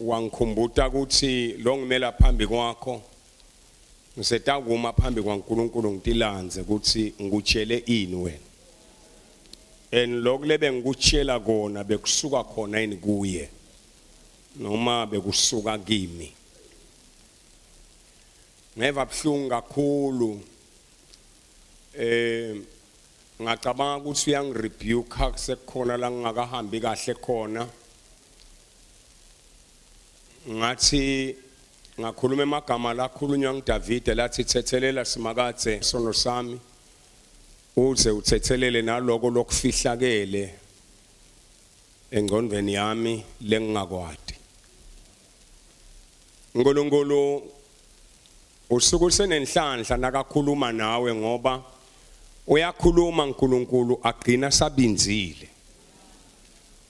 wangikhumbuta ukuthi lo ngimela phambi kwakho ngisetakuma phambi kwaNkulunkulu ngitilandze ukuthi ngikutshele ini wena and lokho lebe ngikutshela kona bekusuka khona yini kuye noma bekusuka kimi ngeva buhlungu kakhulu eh ngacabanga ukuthi uyangirebuka sekukhona la ngingakahambi kahle khona ngathi ngakhuluma emagama lakhulunywa ngidavide lathi thethelela simakadze sono sami uze uthethelele naloko lokufihlakele engqondweni yami lengingakwadi Nkulunkulu usuku senenhlanhla nakakhuluma nawe ngoba uyakhuluma uNkulunkulu agcina sabinzile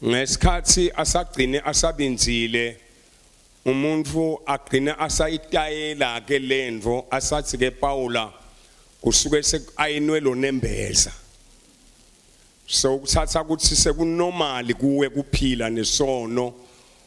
ngesikhathi asagcine asabinzile umuntu agcina asayitayela ke lento asathi ke Paula kusuke sekayinwe lo nembeza so ukuthatha ukuthi sekunormal kuwe kuphila nesono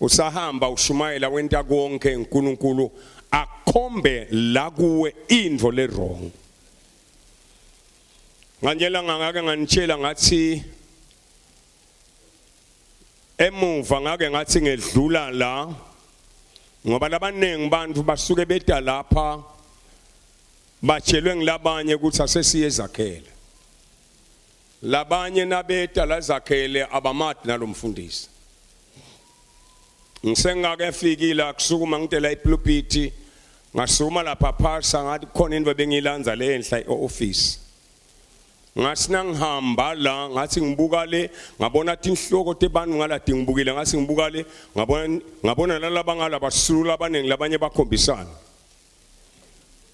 Usahamba ushumayela wenta konke uNkulunkulu akhombe la kuwe into le wrong. Nganjela ngangake nganitshela ngathi emuva ngake ngathi ngedlula la ngoba labaningi abantu basuke beta lapha batshelwe ngilabanye ukuthi asesiye ezakhele Labanye nabeta lazakhele abamati nalomfundisi. Ngisengake fikila kusukuma ngitela ipulpiti ngasukuma lapha phasa ngathi khona into bengilanza le enhla eoffice. Ngasina ngihamba la ngathi ngibuka le ngabona tinhloko tebantu ngalati ngibukile ngathi ngibuka le ngabona ngabona lalaba ngalaba sulu abaningi labanye bakhombisana.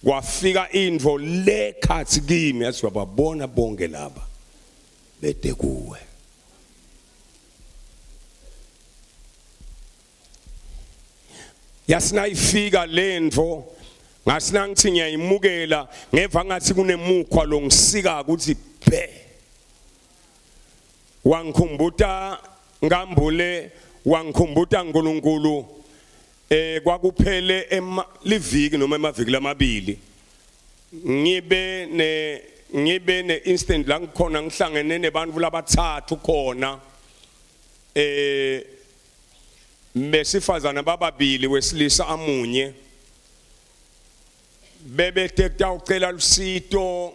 kwafika indvo le khathi kimi yathi bababona bonke laba bede kuwe yasinayifika lento ngasina ngithi ngiyayimukela ngeva ngathi kunemukhwa lo ngisika ukuthi bhe wangikhumbuta ngambule wangikhumbuta uNkulunkulu Eh kwakuphele emaliviki noma emaviki lamabili ngibe ne ngibe ne instant la ngikhona ngihlangene nebantu labathathu khona eh besifazana bababili wesilisa amunye bebe tekutawucela lusito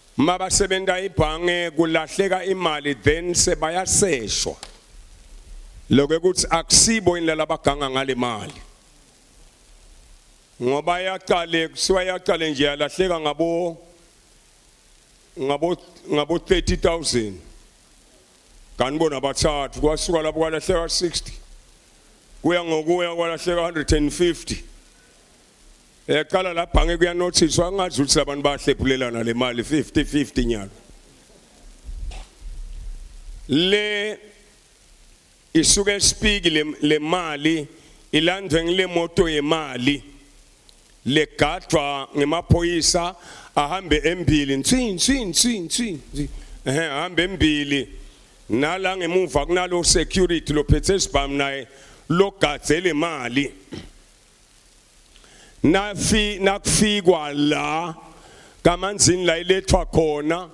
mabasebenza ibhange kulahleka imali then sebayaseshwa lokho ukuthi akusibo indlela abaganga ngale mali ngoba yaqale kusiwa yaqale nje yalahleka ngabo ngabo ngabo 30000 kanti bona bathathu kwasuka lapho kwalahleka 60 kuya ngokuya kwalahleka 150 Yaqala la bhange kuyanothiswa angazi ukuthi labantu bahlephulelana le mali 50 50 nyalo. Le isuke speak le, le mali ilandwe ngile moto yemali legadwa ngemaphoyisa ahambe embili nsi nsi nsi nsi ehe ahambe embili nala ngemuva kunalo security lophethe isibhamu naye logadze le mali nafi nakufikwa la kamanzini la ilethwa khona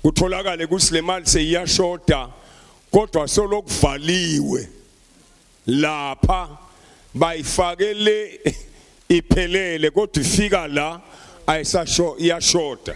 kutholakale ukuthi le mali seyiyashoda kodwa solokuvaliwe lapha bayifake le iphelele kodwa ifika la ayisasho iyashoda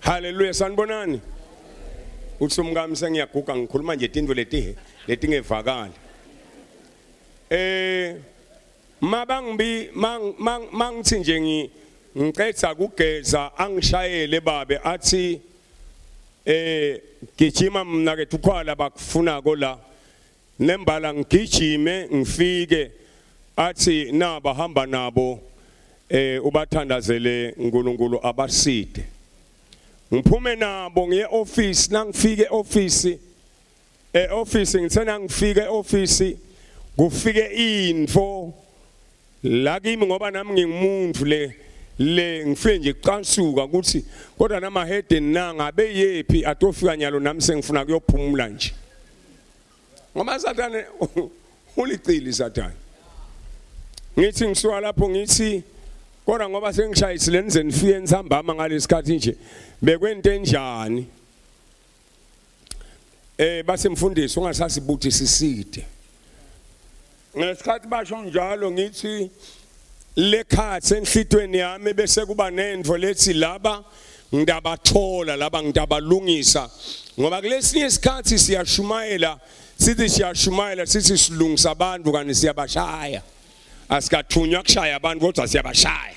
Haleluya sanibonani. Uthi umkami sengiyaguga ngikhuluma nje tindwe letihe letingevakali. Eh mabangibi mangithi nje ngi ngicetha kugeza angishayele babe athi eh gijima mina ke thukhala bakufuna ko la nembala ngigijime ngifike athi naba hamba nabo eh ubathandazele uNkulunkulu abaside ngiphume nabo ngiye office nangifike office eh office ngithena ngifike office kufike info la kimi ngoba nami ngingumuntu le le ngifike nje kucansuka ukuthi kodwa nama head nanga beyephi atofika nyalo nami sengifuna kuyophumula nje ngoba sathane ulicili sathane ngithi ngisuka lapho ngithi kodwa ngoba sengishayisile nize nifike nisambama ngalesikhathi nje bekwento enjani eh basemfundisi ungasasibuthi siside ngesikhathi basho njalo ngithi lekhathi enhlitweni yami bese kuba nento lethi laba ngidabathola laba ngidabalungisa ngoba kulesinye isikhathi siyashumayela sithi siyashumayela sithi silungisa abantu kanti siyabashaya asikathunywa kushaya abantu kodwa siyabashaya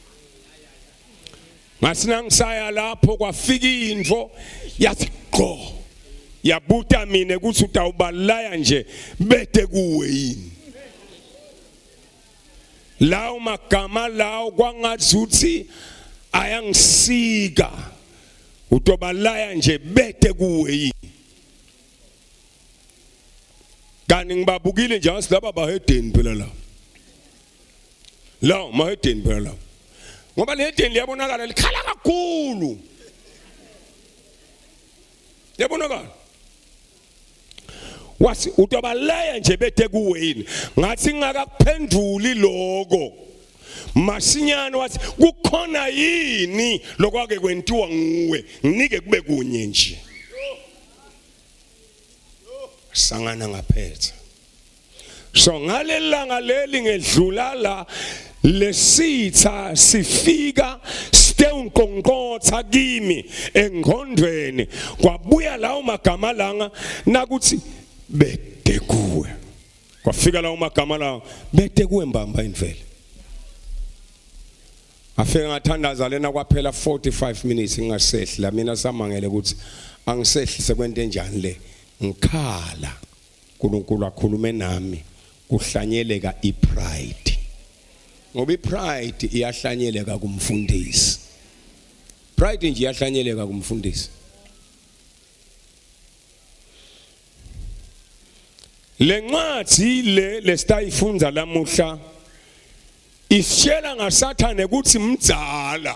ngasina ngisaya lapho kwafika into yathi gqo yabuta mina ukuthi utawubalaya nje bete kuwe yini lawo magama lawo kwangazuthi ayangisika utobalaya nje bete kuwe yini kanti ngibabukile nje ngasilaba bahedeni phela la la mahedeni phela la ngoba lehedeni liyabonakala likhala kakhulu liyabonakala wathi utobalaya nje bethe kuwe yini ngathi ngakakuphenduli lokho masinyane wathi kukhona yini lokwake kwentiwa nguwe nginike kube kunye nje sangana ngaphetha so ngalelanga leli ngedlula la lesitha sifika sitewunkonqotha kimi engqondweni kwabuya lawo magama langa nakuthi bede kuwe kwafika lawo magama lawo bede kuwe mbamba indvele afike ngathandaza lena kwaphela 45 minutes ngingasehli la mina samangele ukuthi angisehli sekwente njani le ngikhala uNkulunkulu akhulume nami kuhlanyeleka ipride ngoba ipride iyahlanyeleka kumfundisi pride nje iyahlanyeleka kumfundisi lencwadi le lesitayifunda lamuhla isitshela ngasathane ukuthi mdzala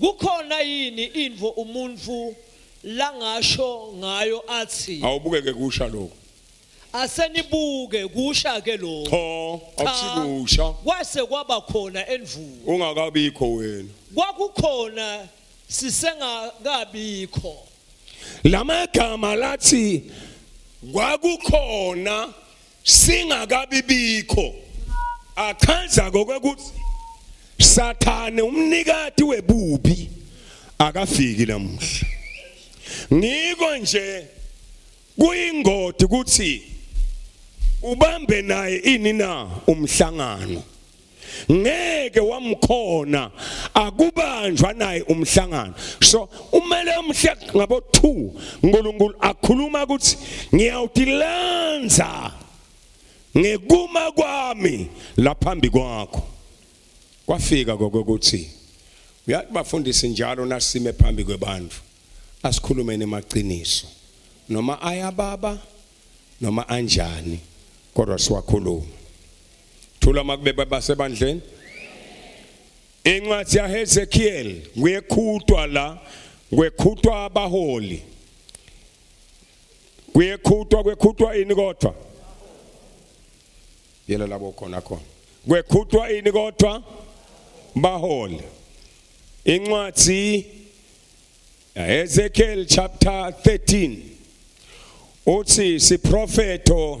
Kukhona yini invo umuntu langasho ngayo athi Awubukeke kusha lokho. asenibuke kusha ke lokho. Cho, Cha, akusikusha. Kwase kwaba khona envuko. Ungakabikho wena. Kwakukhona sisengakabikho. Lamagama lathi kwakukhona singakabi bikho achaza kokuthi sathane umnikati webubi akafiki namuhla ngiko nje kuyingodi ukuthi ubambe naye ini na umhlangano ngeke wamkhona akubanjwa naye umhlangano so umele umhle ngabo 2 uNkulunkulu akhuluma ukuthi ngiyawutilanza ngekuma kwami laphambi kwakho kwafika kokuthi uyathi bafundisi njalo nasime phambi kwebantu asikhulumeni emaqiniso noma ayababa noma anjani kodwa siwakhuluma thula makube basebandleni incwadi yaHezekiel kuyekhutwa la kwekhutwa abaholi kuyekhutwa kwekhutwa ini kodwa yela labo khona khona kwekhutwa ini kodwa baholi incwadi Ezekiel chapter 13 uthi siprofeto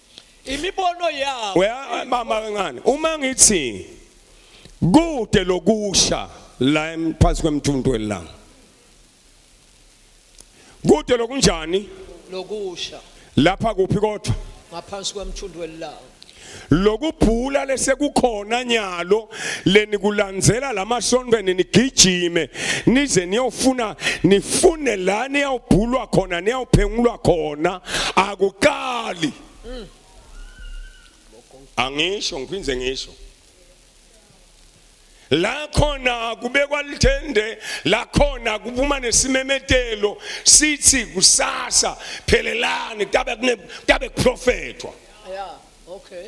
imibono yawo uya mama kancane uma ngithi kude lokusha la em- phansi kwemthuntu welanga kude lokunjani lokusha lapha kuphi kodwa ngaphansi kwemthundu welanga lokubhula lesekukhona nyalo leni kulandzela lamasonto nigijime nize niyofuna nifune la niyawubhulwa khona niyawuphengulwa khona akuqali angisho ngiphinde ngisho la khona kubekwa lithende la khona kuphuma nesimemetelo sithi kusasa phelelani kutabe kutabe kuprofethwa yeah okay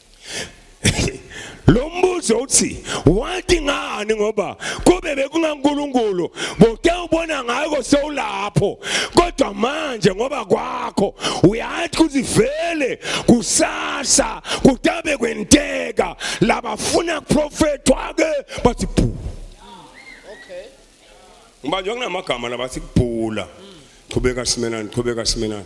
lo mbuzo uthi wathi ngani ngoba kube bekungankulunkulu boke ubona ngako sewulapho kodwa manje ngoba kwakho uyathi kuthi vele kusasa kutabe kwenteka labafuna kuprofethwa ke bathi bhu okay ngoba nje kunamagama labathi kubhula qhubeka simelani qhubeka simelani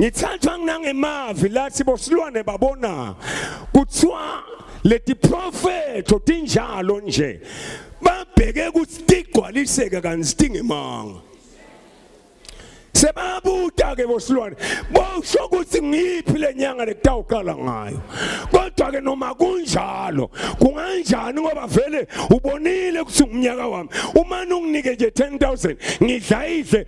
ngithathwa nginangemavi lathi bosilwane babona kuthiwa leti profeto tinjalo nje babheke ukuthi tigcwaliseke kanti sitingemanga sebabuta ke bosilwane bosho ukuthi ngiphi lenyanga lekutawuqala ngayo kodwa ke noma kunjalo kunganjani ngoba vele ubonile ukuthi ngumnyaka wami uma unginike nje 10000 ngidla idle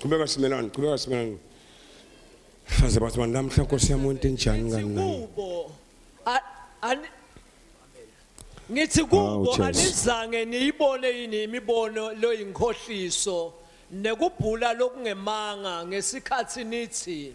Qhubeka simelani, qhubeka simelani. Faze bathi manje namhla Nkosi yami wento enjani ngani nami. kubo a- ani- ngithi kubo Hawu, Jesu. anizange niyibone yini imibono loyinkohliso nekubhula lokungemanga ngesikhathi nithi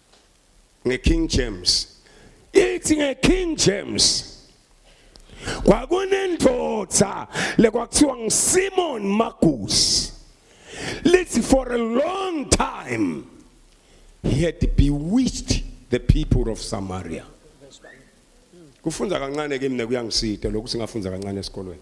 ngeKing James ithi ngeKing James kwakunendoda lekwakuthiwa nguSimon Magus lithi for a long time he had bewitched the people of Samaria kufunda kancane ke mina kuyangisida lokhu singafunza kancane esikolweni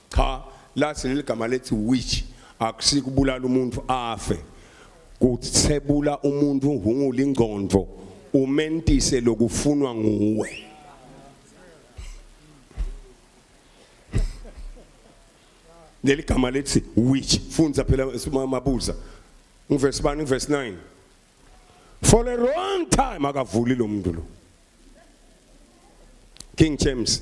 cha lathi leli gama lethi witch akusikubulala umuntu afe kuthebula umuntu uhungula ingqondo umentise lokufunwa nguwe leli gama lethi which funza phela mabuza ngivesi bani ngivesi 9 for a long time akavuli lo muntu lo King James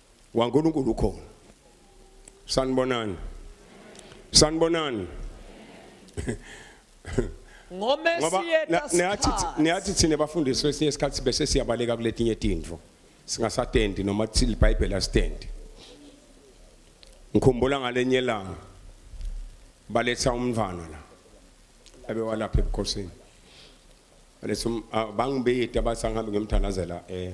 waNkulunkulu ukhona sanibonani sanibonani ngomesingobaneyathi thina bafundisi kwesinye isikhathi bese siyabaleka kuletinye tintfo singasatendi noma thile ibhayibheli asitendi ngikhumbula ngalenye ilanga baletha umntwana la abewalapha ebukhosini baletha um, ah, bangibiyita bathi angihambe ngimthandazela um eh,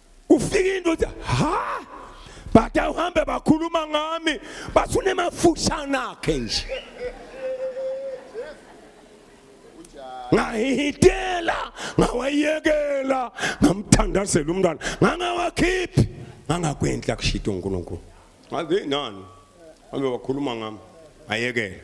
ufika into uthi ha but awuhambe bakhuluma ngami bathi unemafushana akhe nje ngahihitela ngawayekela ngamthandazela umntwana ngangawakhiphi ngangakwendla kushita uNkulunkulu ngaze nani abe wakhuluma ngami ayekela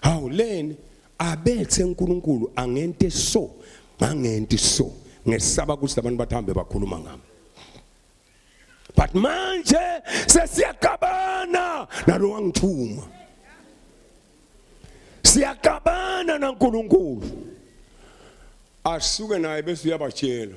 hawu leni abethe uNkulunkulu angente so ngangenti so ngesaba ukuthi labantu bathambe bakhuluma ngami but manje sesiyagabana nalo wangithuma siyagabana naNkulunkulu asuke naye bese uyabatshela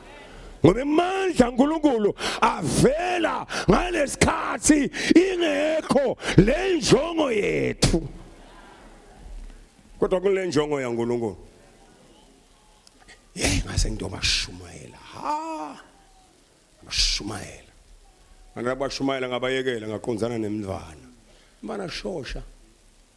ngoba imandla uNkulunkulu avela ngalesikhathi ingekho le njongo yethu kodwa kule njongo yaNkulunkulu hey ngase ngiyobashumayela ha bashumayela ngana bashumayela ngabayekela ngaqonzana nemndvana mana shosha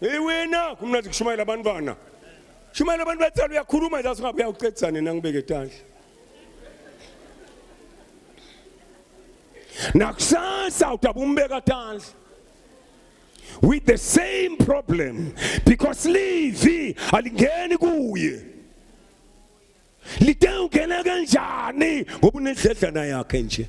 Hey wena kumnandi kushumayela abantwana. Shumayela abantu bathela uyakhuluma nje asingabe uyawuqedisa nina ngibeke tandla. Nakusasa utabumbeka tandla. With the same problem because livi alingeni kuye. Lite ungena kanjani ngoba unedledlana yakhe nje.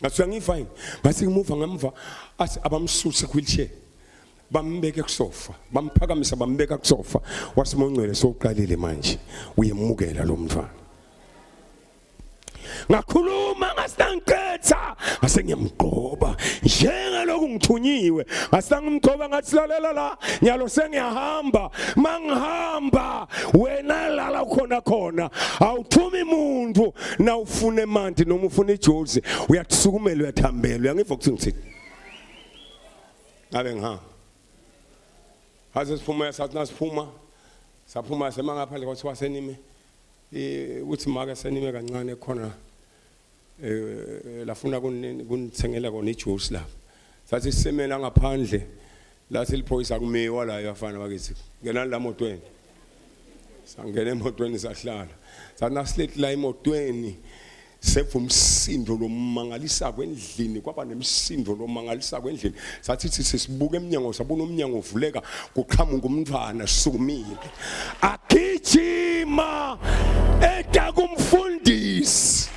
ngasuka ngifine ngase ngimuva ngemva athi abamsuse wheelchair bambeke kusofa bamphakamisa bambeka kusofa wasimongcwele soqalile manje uyemukela lo mfana ngakhuluma ngasinangiqetha ngase ngiyamgqoba njengalokhu ngithunyiwe ngasangimgqoba ngathi lalela la nyalo sengiyahamba mangihamba wena lala khona khona awuthumi muntu na ufuna emanti noma ufuna ijozi uyathusukumela uyathambela uyangiva ukuthi ngithini ngabe ngihamba haze siphuma sathi nasiphuma saphuma sema ngaphandle kwathiwa senime ukuthi make senime kancane khona eh lafuna kunithengela kona ijuice lapha sathi sisemela ngaphandle la siliphoyisa kumiwa la yafana bakithi ngenani la motweni sangena emotweni sahlala sathi nasilethi la emotweni seve umsindo lomangalisa kwendlini kwaba nemsindo lomangalisa kwendlini sathi sithi sisibuka emnyango sabona umnyango uvuleka kuqhamuka umntwana sikumile agijima eta kumfundisi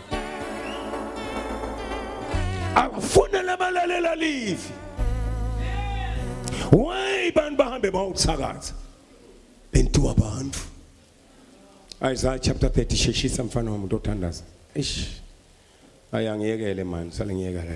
akufune labalalela livi why bantu bahambe bawuthakaza bentu abantu Isaiah chapter 30 sheshisa mfana wami utothandaza ish ayangiyekele manje sale ngiyeka la